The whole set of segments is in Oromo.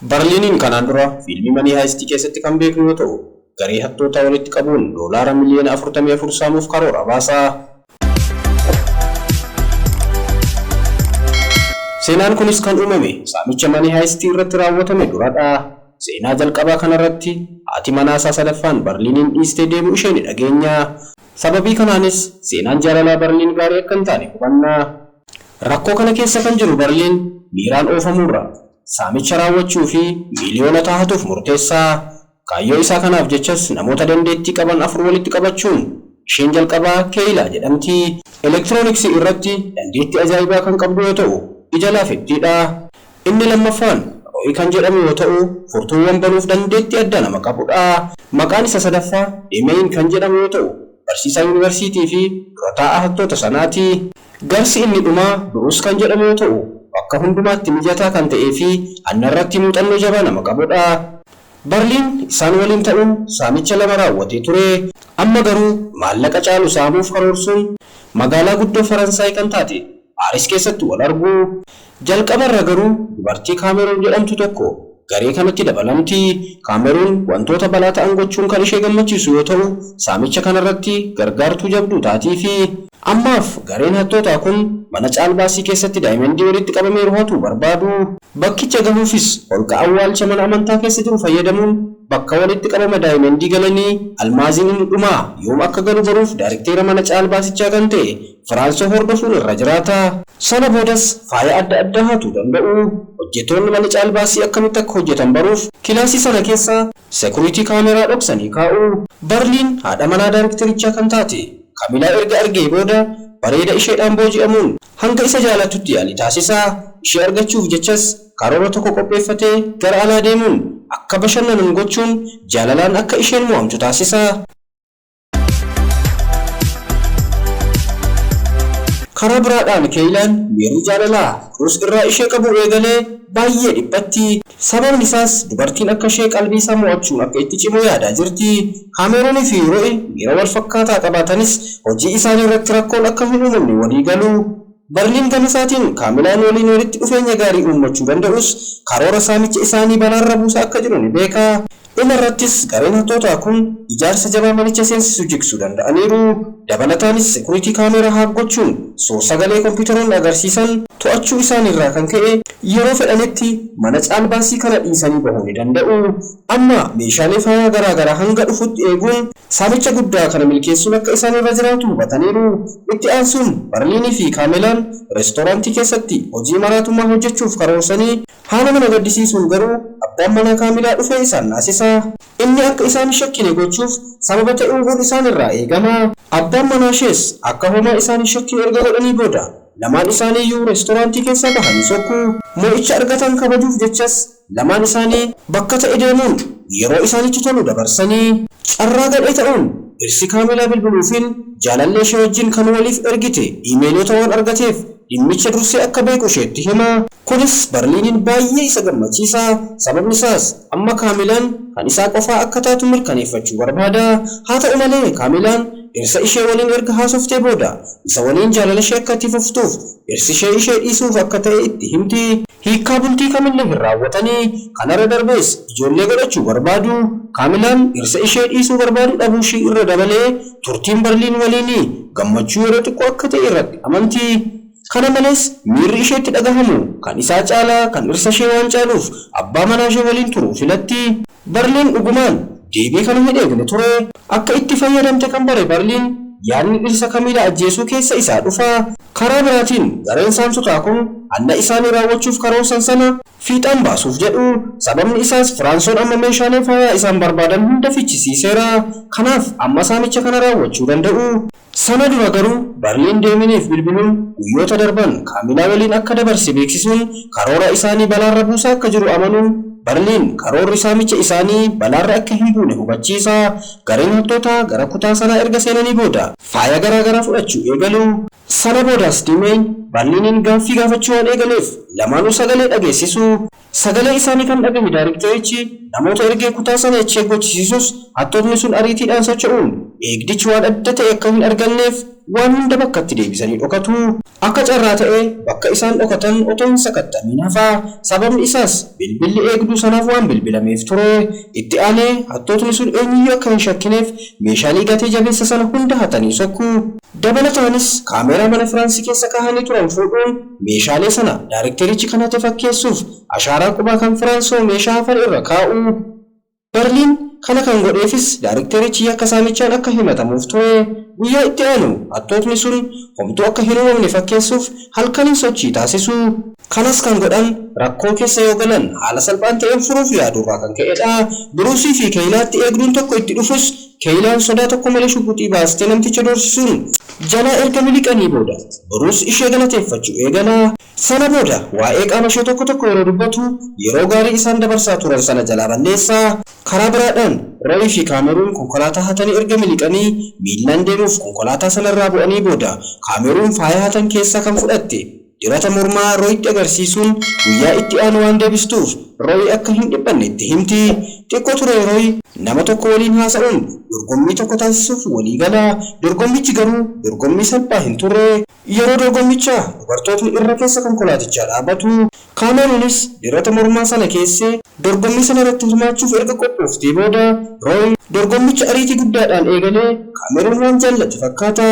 Barliiniin kanaan dura fiilmii Manii Haayistii keessatti kan beeknu yoo ta'u, garee hattootaa walitti qabuun doolaara miliyoona afurtamii afur saamuuf karoora baasa. Seenaan kunis kan uumame saamicha Manii Haayistii irratti raawwatame dura dha. Seenaa jalqabaa kana irratti haati manaa isaa sadaffaan Barliiniin dhiistee deemuu ishee ni dhageenya. Sababii kanaanis seenaan jaalalaa Barliin gaarii akka hin taane hubanna. Rakkoo kana keessa kan jiru Barliin miiraan oofamuurra saamicha raawwachuu fi miiliyoonotaa hatuuf murteessa. Kaayyoo isaa kanaaf jechas namoota dandeettii qaban afur walitti qabachuun, isheen jalqabaa Keeyilaa jedhamti. Elektirooniksii irratti dandeettii ajaa'ibaa kan qabdu yoo ta'u, ija laafettii dha. Inni lammaffaan Rooyi kan jedhamu yoo ta'u, furtuuwwan banuuf dandeettii addaa nama qabu dha. Maqaan isa sadaffaa Deemeeyin kan jedhamu yoo ta'u, barsiisaa yunivarsiitii fi dura taa'aa hattoota sanaa ti. Garsi inni dhumaa Bruce kan jedhamu yoo ta'u, bakka hundumaatti mijataa kan ta'ee fi hannarratti muuxannoo jabaa nama qabudha. Barliin isaan waliin ta'uun saamicha lama raawwatee ture. Amma garuu maallaqa caalu saamuuf karoorsuun magaalaa guddoo Faransaay kan taate Paaris keessatti wal argu. Jalqaba irra garuu dubartii Kaameruun jedhamtu tokko garee kanatti dabalamti. Kaameruun wantoota balaa ta'an gochuun kan ishee gammachiisu yoo ta'u, saamicha kana irratti gargaartuu jabduu taatiifi. Ammaaf gareen hattootaa kun mana caalbaasii keessatti daayimandii walitti qabameeru hatuu barbaadu. Bakkicha gahuufis holqa awwaalcha mana amantaa keessa jiru fayyadamuun bakka walitti qabama daayimandii galanii almaaziin inni dhumaa yoom akka galu baruuf daarikteera mana caalbaasichaa kan ta'e Firaansoo hordofuun irra jiraata. Sana boodas faaya adda addaa hatuu danda'u. Hojjettoonni mana caalbaasii akkamitti akka hojjetan baruuf kilaasii sana keessa security camera dhoksanii kaa'u. Barliin haadha manaa daarekterichaa kan taate Kamilaa erga argee booda bareeda isheedhaan booji'amuun hanga isa jaalattutti yaalii taasisa. Ishee argachuuf jechas karoora tokko qopheeffatee gara alaa deemuun akka bashannanan gochuun jaalalaan akka isheen mo'amtu taasisa. Karaa biraadhaan Keeylaan miirri jaalalaa Ruuz irraa ishee qabuu eegalee baay'ee dhiphatti. Sababni isaas dubartiin akka ishee qalbii isaa mo'achuun akka itti cimu yaadaa jirti. Kaameeruunii fi Ro'i miira wal fakkaataa qabaatanis hojii isaanii irratti rakkoon akka hin uumamne walii galu. Barliin gama isaatiin Kaamilaan waliin walitti dhufeenya gaarii uummachuu danda'us karoora saamicha isaanii balaarra buusaa akka jiru ni beeka. Dhuma irrattis gareen hattootaa kun ijaarsa jabaa manicha seensisu jigsu danda'aniiru. Dabalataanis security camera hack gochuun suur-sagalee kompiitaroonni agarsiisan to'achuu isaanii irraa kan ka'e yeroo fedhanitti mana caalbaasii kana dhiisanii bahuu ni danda'u. Amma meeshaalee faayaa garaa garaa hanga dhufutti eeguun saamicha guddaa kana milkeessuun akka isaan irra jiraatu hubataniiru. Itti aansuun Barliinii fi Kaamelaan reestooraantii keessatti hojii maraatummaa hojjechuuf karoorsanii Haala nama gaddisiisuun garuu abbaan manaa Kaamilaa dhufee isaan naasisa. Inni akka isaan hin shakkine gochuuf sababa ta'uuhuun isaan irraa eegama. Abbaan manaashees akka homaa isaan hin shakkine erga godhanii booda lamaan isaaniiyyuu reestoraantii keessaa bahanii sokku. Mo'icha argatan kabajuuf jechas lamaan isaanii. bakka ta'e deemuun yeroo isaanitti tolu dabarsani. Carraa gadhee ta'uun dhirsi Kaamilaa bilbiluufiin jaalalleeshee wajjin kan waliif ergite iimeeloota waan argateef dhimmicha dursee akka beeku isheetti hima. Kunis Barliiniin baay'ee isa gammachiisa, sababni isaas amma Kaamilaan kan isaa qofaa akka taatu mirkaneeffachuu barbaada. Haa ta'u malee, Kaamilaan dhirsa ishee waliin erga haasoftee booda, isa waliin jaalalashee akka itti fuftuuf dhirsishee ishee dhiisuuf akka ta'e itti himti. Hiikkaa bultii Kamille hin raawwatani. Kanarra darbees ijoollee godhachuu barbaadu. Kaamilaan dhirsa ishee dhiisuu barbaadu dhabuushii irra dabalee turtiin Barliin waliini gammachuu yeroo xiqqoo akka ta'e irratti amanti. Kana malees miirri isheetti dhagahamu kan isaa caalaa kan dhirsashee waan caaluuf abbaa manaashee waliin turuu filatti. Barliin dhugumaan deebii kana hin eegne ture. Akka itti fayyadamte kan bare Barliin, yaadni dhirsa Kamiilaa ajjeesuu keessa isaa dhufa. Karaa biraatiin, gareen saamtotaa kun hanna isaanii raawwachuuf karoorsan sana fiixaan baasuuf jedhu. Sababni isaas, Firaansoon amma meeshaalee faayaa isaan barbaadan hunda fichisiiseera. Kanaaf, amma saamicha kana raawwachuu danda'u. Sana dura garuu Barliin Deeminiif bilbiluun guyyoota darban Kaamilaa waliin akka dabarse beeksisuun karoora isaanii balaarra buusaa akka jiru amanuun Barliin karoorri saamicha isaanii balaarra akka hin buune hubachiisa. Gareen hattootaa gara kutaa sanaa erga seenanii booda. faaya garaa garaa fudhachuu eegalu. Sana boodas Dimeeyn Barliiniin gaaffii gaafachuu waan eegaleef lamaanuu sagalee dhageessisu. Sagalee isaanii kan dhaga'e daarekterichi namoota ergee kutaa sana echeek gochisiisus hattootni sun ariitiidhaan socho'uun eegdichi waan adda ta'e akka hin arganneef waan hunda bakkatti deebisanii dhokatu. Akka carraa ta'ee bakka isaan dhokatan otoo hin sakatta'amiin hafa. Sababni isaas bilbilli eegduu sanaaf waan bilbilameef ture. Itti aanee hattootni sun eenyuyyuu akka hin shakkineef meeshaalee gatee jabeessa sana hunda hatanii sokku. Dabalataanis kaameeraa mana Firaansi keessa kaahanii turan fuudhuun Meeshaalee sana daarekterichi kanatti fakkeessuuf ashaaraa qubaa kan Firaansoo meeshaa hafan irra kaa'u. Barliin kana kan godheefis daarekterichi yakka saamichaan akka himatamuuf ture. Guyyaa itti aanu hattootni sun homtuu akka hin uumamne fakkeessuuf halkaniin sochii taasisu. Kanas kan godhan rakkoo keessa yoo galan haala salphaan ta'een furuuf yaaduu irraa kan ka'edha. Biruusii fi Keeynaatti eegduun tokko itti dhufus Keeylaan sodaa tokko malee shuguxii baastee namticha doorsisuun jalaa erga miliqanii booda boruus ishee galateeffachuu eegala. Sana booda waa'ee qaama ishee tokko tokko yeroo dubbatu yeroo gaarii isaan dabarsaa turan sana jalaa balleessa. Karaa biraadhaan Roy fi Kaameruun konkolaataa hatanii erga miliqanii miillaan deemuuf konkolaataa sanarraa bu'anii booda Kaameruun faaya hatan keessaa kan fudhatte Dibata mormaa Royitti agarsiisuun guyyaa itti aanu waan deebistuuf Royi akka hin dhiphanne itti himti. Xiqqoo turee Royi nama tokko waliin haasa'uun dorgommii tokko taasisuuf walii gala. Dorgommichi garuu dorgommii salphaa hin turre. Yeroo dorgommichaa dubartootni irra keessa konkolaatichaa dhaabatu. Kaameruunis dibata mormaa sana keesse. Dorgommii sana irratti hirmaachuuf erga qophooftee booda Royi. Dorgommicha ariitii guddaadhaan eegale. Kaameruun waan jaallate fakkaata.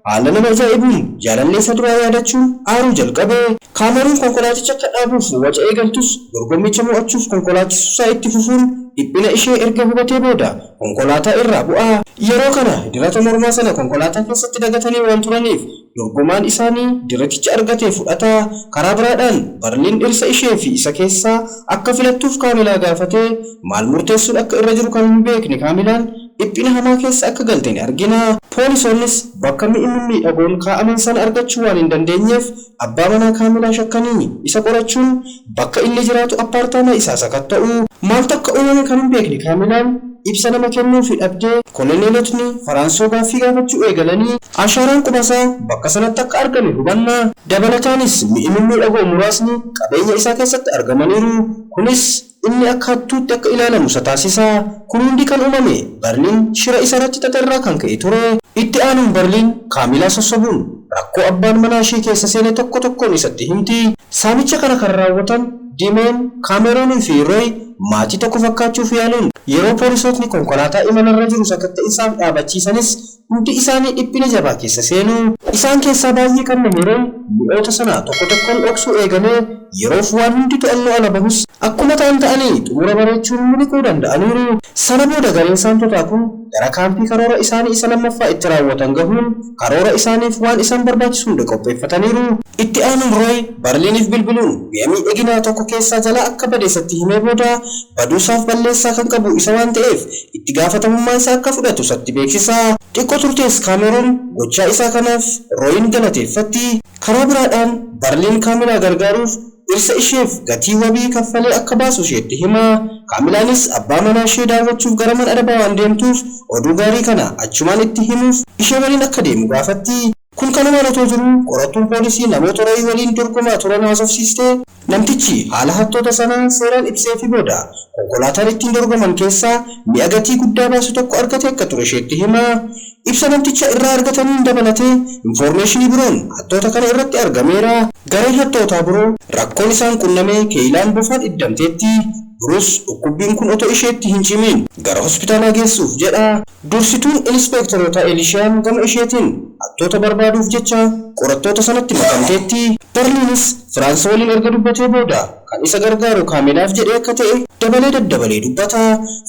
Haala nama ajaa'ibuun jaalallee isa duraa yaadachuun aaruu jalqabe. Kaameruun konkolaaticha akka dhaabuuf waca eegaltus, dorgommicha mo'achuuf konkolaachisuusaa itti fufuun dhiphina ishee erga hubatee booda konkolaataa irraa bu'a. Yeroo kana dirata mormaa sana konkolaataa keessatti dagatanii waan turaniif, dorgomaan isaanii diraticha argate fudhata. Karaa biraadhaan, Barliin dhirsa ishee fi isa keessaa akka filattuuf Kaamilaa gaafate. Maal murteessuun akka irra jiru kan hin beekne Kaamilaan, dhiphina hamaa keessa akka galte ni argina. Poolisoonnis bakka mi'i mimmiidhagoon kaa'aman sana argachuu waan hin dandeenyeef abbaa manaa Kaamilaa shakkanii isa qorachuun bakka inni jiraatu appaartaamaa isaa sakatta'u. Maaltu akka uumame kan hin beekne Kaamilaan ibsa nama kennuufi dhabde. Koloneelotni Faraansoo gaaffii gaafachuu eegalani. Ashaaraan qubasaa bakka sanatti akka argame hubanna. Dabalataanis mi'i mimmiidhagoo muraasni qabeenya isaa keessatti argamaniiru. Kunis. Inni akka hattuutti akka ilaalamu isa taasisa. Kun hundi kan uumame Barliin shira isa irratti xaxe irraa kan ka'e ture. Itti aanuun Barliin Kaamilaa sossobuun rakkoo abbaan manaa ishee keessa seene tokko tokkoon isatti himti. Saamicha kana kan raawwatan Dimeen, Kaameruunii fi Rooy maatii tokko fakkaachuuf yaaluun yeroo poolisootni konkolaataa imala irra jiru sakatta'insaaf dhaabachiisanis Hundi isaanii dhiphina jabaa keessa seenu. Isaan keessaa baay'ee qabna yeroon mi'oota sana tokko tokkoon dhoksuu eegale, yeroof waan hundi to'annoo ala bahus. Akkuma ta'an ta'anii xumura bareechuun miliquu danda'aniiru. Sana booda gareen saamtotaa kun gara kaampii karoora isaanii isa lammaffaa itti raawwatan gahuun karoora isaaniif waan isaan barbaachisu hunda qopheeffataniiru. Itti aanuun Rooy Barliiniif bilbiluun mi'a miidhaginaa tokko keessaa jalaa akka bade isatti himee booda baduusaaf balleessaa kan qabu isa waan ta'eef itti gaafatamummaa isaa akka fudhatu isatti beeksisa. Xiqqo turtees Kaameruun gochaa isaa kanaaf Rooyiin galateeffatti. Karaa biraadhaan Barliin Kaamilaa gargaaruuf dhirsa isheef gatii wabii kaffalee akka baasu isheetti hima. Kaamilaanis abbaa manaa ishee daawwachuuf gara man arabaa waan deemtuuf oduu gaarii kana achumaan itti himuuf ishee waliin akka deemu gaafatti. Kun kanumaan otoo jiruu qorattuun poolisii namoota Roy waliin dorgomaa turan haasofsiiste. Namtichi haala hattoota sanaa seeraan ibseefii booda konkolaataan ittiin dorgoman keessaa mi'a gatii guddaa baasu tokko argate akka ture isheetti hima. Ibsa namticha irraa argataniin dabalatee infoormeeshinii biroon hattoota kana irratti argameera. Gareen hattootaa biroo rakkoon isaan qunname Keeylaan bofaan iddamteetti. Bruce dhukkubbiin kun otoo isheetti hin cimiin gara hospitaalaa geessuuf jedha. Dursituun Inispeektarootaa Elishaan gama isheetiin, hattoota barbaaduuf jecha qorattoota sanatti makamteetti. Darliinis Firaansi waliin erga dubbatee booda, kan isa gargaaru Kaameelaaf jedhee akka ta'e dabalee daddabalee dubbata.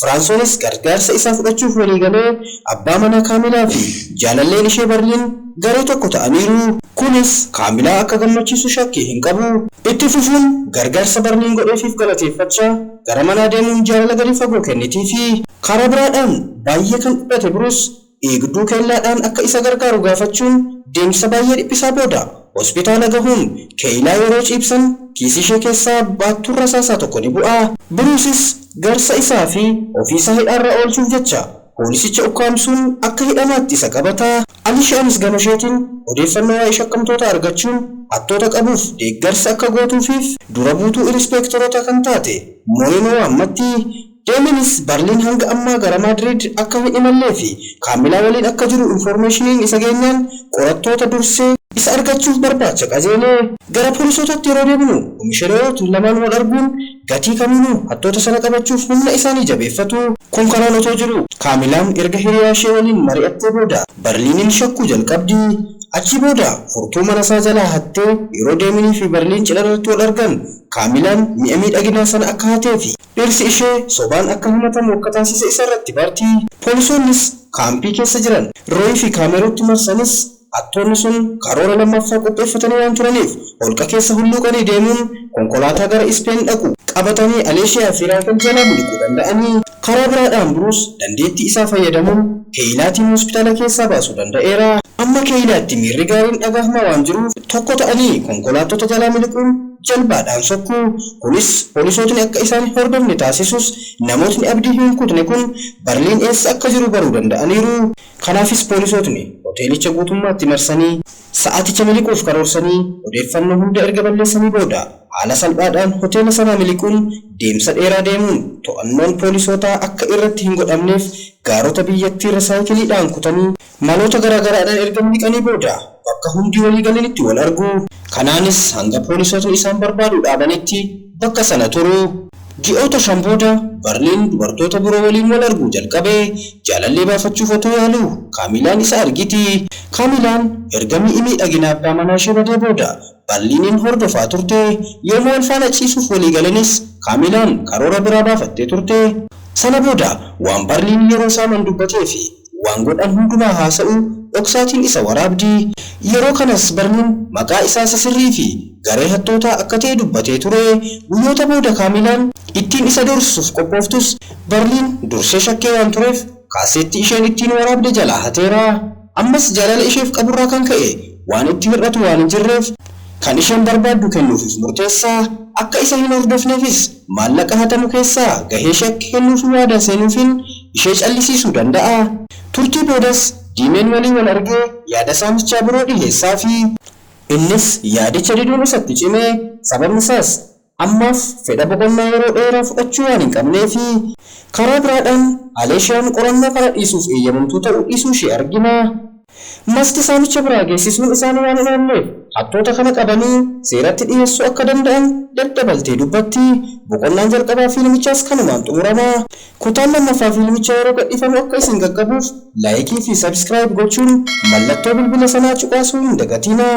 Firaansoonis gargaarsa isaa fudhachuuf walii galee, abbaa manaa Kaameelaa fi jaalalleen ishee Barliin garee tokko ta'aniiru. Kunis Kaameelaa akka gammachiisu shakkii hin qabu. Itti fufuun, gargaarsa Barliin godheefiif galateeffachaa. gara manaa deemuun jaalala gadi fagoo kennitiifii. Karaa biraadhaan, baay'ee kan dhiphate Biruus, eegduu keellaadhaan akka isa gargaaru gaafachuun deemsa baay'ee dhiphisaa booda hospitaala gahuun, keeylaa yeroo ciibsan kiisiishee keessaa baattuun rasaasaa tokko ni bu'a. Biruusis jarsa isaa fi ofiisaa hidhaarraa oolchuuf jecha poolisicha ukkaamsuun akka hidhamaatti isa qabata. Alishaanis gama isheetiin odeeffannoo waa'ee shakkamtootaa argachuun hattoota qabuuf deeggarsa akka gootuufiif dura buutuu inispeektaroota kan taate Moreno waammatti. Deemiinis Barliin hanga ammaa gara Maadriid akka hin imallee fi Kaamilaa waliin akka jiru infoormeeshiniin isa geenyaan qorattoota dursee isa argachuuf barbaacha qajeele. Gara poolisootatti yeroo deebinu Komishanerootni lamaan wal arguun Gatii kamiinuu hattoota sana qabachuuf humna isaanii jabeeffatu. Kun kanaan otoo jiruu, Kaamilaan erga hiriyaa ishee waliin mari'attee booda Barliiniin shakkuu jalqabdi. Achii booda furtuu mana isaa jalaa hattee, yeroo Deeminii fi Barliin cidha irratti wal argan, Kaamilaan mi'a miidhaginaa sana akka hatee fi dhirsi ishee sobaan akka himatamu akka taasise isa irratti barti. Poolisoonnis kaampii keessa jiran Rooyii fi Kaameruutti marsanis, Hattoonni sun karoora lammaffaa qopheeffatanii waan turaniif, holqa keessa hulluuqanii deemuun konkolaataa gara Ispeen dhaqu. qabatanii Aleeshiyaa fi Raaykan jalaa miliquu danda'anii? Karaa biraadhaan Biruus dandeettii isaa fayyadamuun Keeyilaatiin hospitaala keessaa baasuu danda'eera. Amma Keeyilaatti miirri gaariin dhagahma waan jiruuf, tokko ta'anii konkolaattota jalaa miliquun jalbaadhaan sokku. Kunis poolisootni akka isaan hin hordofne taasisus, namootni abdii hin kutne kun Barliin eessa akka jiru baruu danda'aniiru. Kanaafis poolisootni hoteelicha guutummaatti marsanii sa'aaticha miliquuf karoorsanii odeeffannoo hunda erga balleessanii booda haala salphaadhaan hoteela sanaa miliquun deemsa dheeraa deemuun to'annoon poolisootaa akka irratti hin godhamneef gaarota biyyattiirra saayikiliidhaan kutanii maloota garaagaraadhaan erga miliqanii booda bakka hundi walii galanitti wal argu. Kanaanis hanga poolisootni isaan barbaaduu dhaabanitti bakka sana turu. Ji'oota shan booda Barliin dubartoota biroo waliin wal arguu jalqabe. Jaalallee baafachuuf otoo yaaluu Kaamilaan isa argiti. Kaamilaan erga mi'i miidhaginaa abbaa manaashee badee booda Barliiniin hordofaa turte. Yooma wal faana ciisuuf walii galanis Kaamilaan karoora biraa baafattee turte. Sana booda waan Barliin yeroo saaman dubbateefi Waan godhan hundumaa haasa'u, dhoksaatiin isa waraabdi. Yeroo kanas Barniin maqaa isaa isa sirrii fi garee hattootaa akka ta'e dubbatee ture. Guyyoota booda Kaamiilaan ittiin isa doorsisuuf qophooftus Barniin dursee shakkee waan tureef kaaseettii isheen ittiin waraabde jalaa hateera. Ammas jaalala isheef qaburraa kan ka'e waan itti hir'atu waan hin jirreef kan isheen barbaaddu kennuufiif murteessa. Akka isa hin hordofneefis maallaqa hatamu keessaa gahee shakke kennuufi waadaa seenuufiin ishee callisiisuu danda'a. Turtii boodas Diimeen walii wal argee yaada saamichaa biroo dhiheessaafi. Innis yaadicha diduun isatti cime, sababni isaas ammaaf fedha boqonnaa yeroo dheeraa fudhachuu waan hin qabneefi. Karaa biraadhaan Aleeshiyaan qorannoo kana dhiisuuf eeyyamamtuu ta'uu dhiisuu ishee argina. Masti saamicha biraa geessisuun isaanii waan hin oolleef hattoota kana qabanii seeratti dhiheessuu akka danda'an daddabaltee dubbatti. Boqonnaan jalqabaa fiilmichaas kanumaan xumurama. Kutaan lammaffaa fiilmichaa yeroo gadhiifamu akka isin qaqqabuuf Laayikii fi Subscribe gochuun mallattoo bilbila sanaa cuqaasuu hin dagatiinaa.